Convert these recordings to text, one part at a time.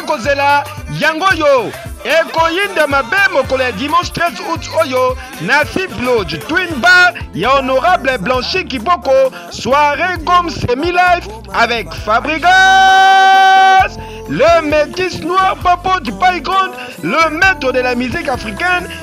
kozela yango oyo ekoyinda mabe mokolo ya dimanche 13 août oyo na fib lodge twin bar ya honorable blanchi kiboko soirée gom semi life avec fabrigas le métis noir papo du paigrond le maître de la musique africaine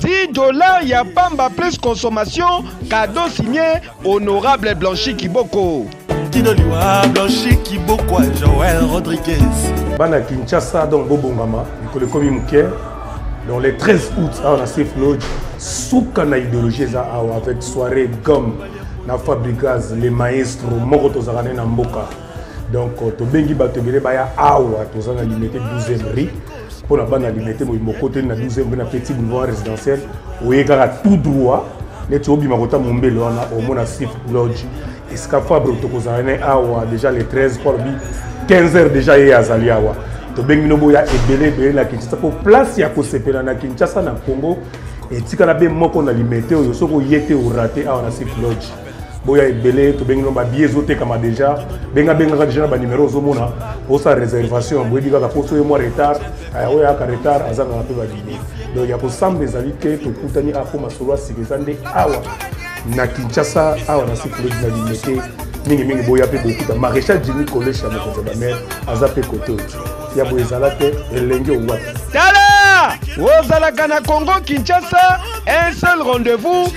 10 dollars ya pamba plus consommation cadeau signé honorable blanchi kiboko tino liwa blanchi kiboko ya joel rodriguez bana kinshasa donc bobongama mikolo ekomi moke donc le 13 août awa na safe lodge suka na idéologie eza awa avec soirée gomme na fabrigaz le maestro moko tozalaka ne na mboka donc tobengi bato ebele baya awa toza na limete 12 rue mpo na bana limete boyi mokoteli na 12 mpe na petit boulevard résidentiel oye kaka tout droit neti obima kota mombele wana omona sif lodge esika fabre tokozala ne awa déjà le 13 mpo alobi 15 heures déjà ye azali awa tobengi bino boya ebele ebele na kinshasa mpo place ya kosepela na kinshasa na congo etikala be moko na limete oyo soki oye te orate awa na sif lodge boya ebele tobengi no babiye ezotekama deja benga bengaka deja na banimero ozomona osa réservation boyebi kaka mpo soye mwa retard eh, oyo ayaka retard azangaka mpe babiye donc ya kosamba ezali te tokutani apo ah, masolo asika eza nde awa na kinshasa awa na sikulodi na limete mingimingi boya mpe bokuta maréchal jimi kolesha mokonzi ya bamere aza mpe kote oyo ya boye ezala te elenge owapi tala ozalaka na congo kinshasa un seul rendez-vous